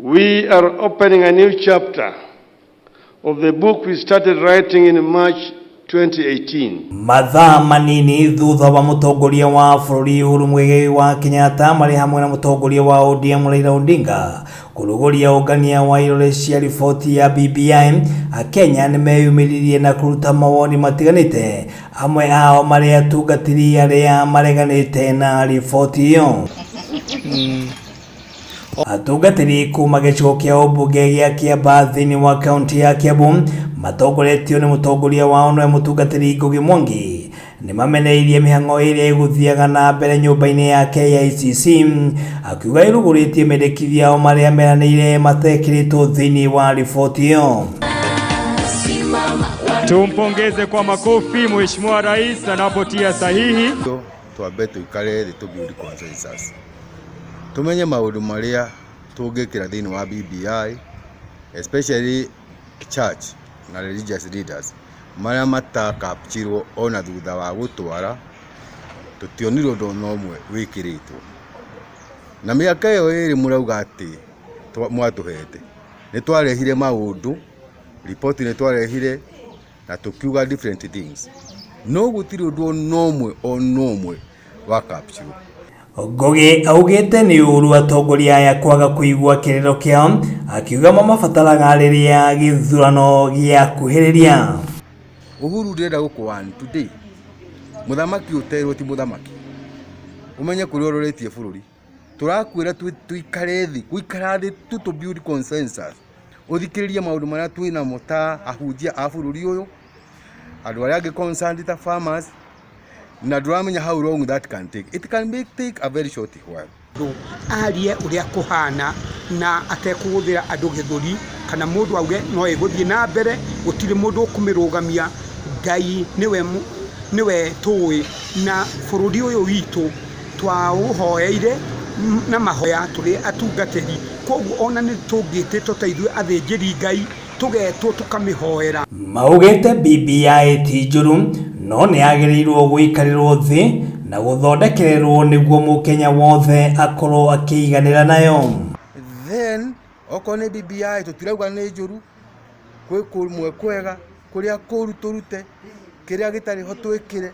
We are opening a new chapter of the book we started writing in March 2018. mathaa manini thutha wa mũtongoria wa bũrũri Uhuru Muigai wa Kenyatta marĩ hamwe na mũtongoria wa ODM Raila Odinga kũrugũria ũngania wa irore cia riboti ya BBI Akenya nĩ meyumĩririe na kũruta mawoni matiganĩte amwe ao marĩ atungatĩri arĩa mareganĩte na riboti ĩyo Atungatĩri kuma gĩcigo kĩa ũmbunge gĩa Kĩamba thĩinĩ wa kaunti ya Kiambu matongoretio nĩ mũtongoria wao nĩwe mũtungatĩri Ngugi Mwangi nĩ mameneirie mĩhang'o ĩrĩa ĩgũthiaga na mbere nyũmba-inĩ ya KICC akiuga ĩrugũrĩtie mendekithia ao marĩa meranĩire matekĩrĩtwo thĩinĩ wa riboti ĩyo. Tumpongeze kwa makofi Mheshimiwa Rais anapotia sahihi. Twambe tũikare thĩ tũ build consensus. tũmenye maũndũ marĩa tũngĩkĩra thĩinĩ wa BBI, especially church na religious leaders marĩa mata capture wo ona thutha wa gũtwara, tũtionire ũndũ ona ũmwe wĩkĩrĩtwo. Na mĩaka ĩyo ĩrĩ mũrauga atĩ mwatũhete, nĩ twarehire maũndũ, riboti nĩ twarehire, na tũkiuga different things no gũtirĩ ũndũ ona ũmwe ona ũmwe wa capture Ngũgĩ augĩte nĩ ũru atongoria aya kwaga kũigua kĩrĩro kĩao akiuga mamabataraga rĩrĩa gĩthurano gĩakuhĩrĩria. Uhuru ndĩrenda gũkũwani today mũthamaki ũterwo ti mũthamaki ũmenye kũrĩa ũroretie bũrũri tũrakwĩra twĩ- tũikare thĩ gũikara thĩ tu tũ build consensus ũthikĩrĩrie maũndũ marĩa twĩ namo ta ahunjia a bũrũri ũyũ andũ arĩa angĩ concerned ta farmers na ndũramenya how long that can take it can be take a very short while mũndũ arie ũrĩa kũhana na atekũhũthĩra andũ gĩthũri kana mũndũ auge no ĩgũthiĩ na mbere gũtirĩ mũndũ ũkũmĩrũgamia ngai nĩwe mũ- nĩwe tũĩ na bũrũri ũyũ witũ Twaũhoeire na mahoya tũrĩ atungatĩri, kwoguo o na nĩtũngĩtĩtwo ta ithuĩ athĩnjĩri Ngai, tũgetwo tũkamĩhoera. Maugĩte BBI ti njũru no nĩyagĩrĩirwo gũikarĩrwo thĩ na gũthondekererwo nĩguo mũkenya wothe akorwo akĩiganĩra nayo. Then Okorwo nĩ BBI tũtirauga nĩ njũru, gwĩ kũmwe kwega, kũrĩa kũru tũrute, kĩrĩa gĩtarĩ ho twĩkĩre,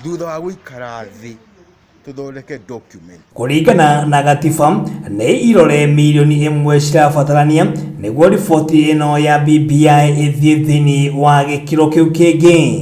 thutha wa gũikara thĩ tũthondeke document. Kũringana na gatiba, nĩ irore mirioni ĩmwe cirabatarania nĩguo riboti ĩno ya BBI ĩthiĩ thĩinĩ wa gĩkĩro kĩu kĩngĩ.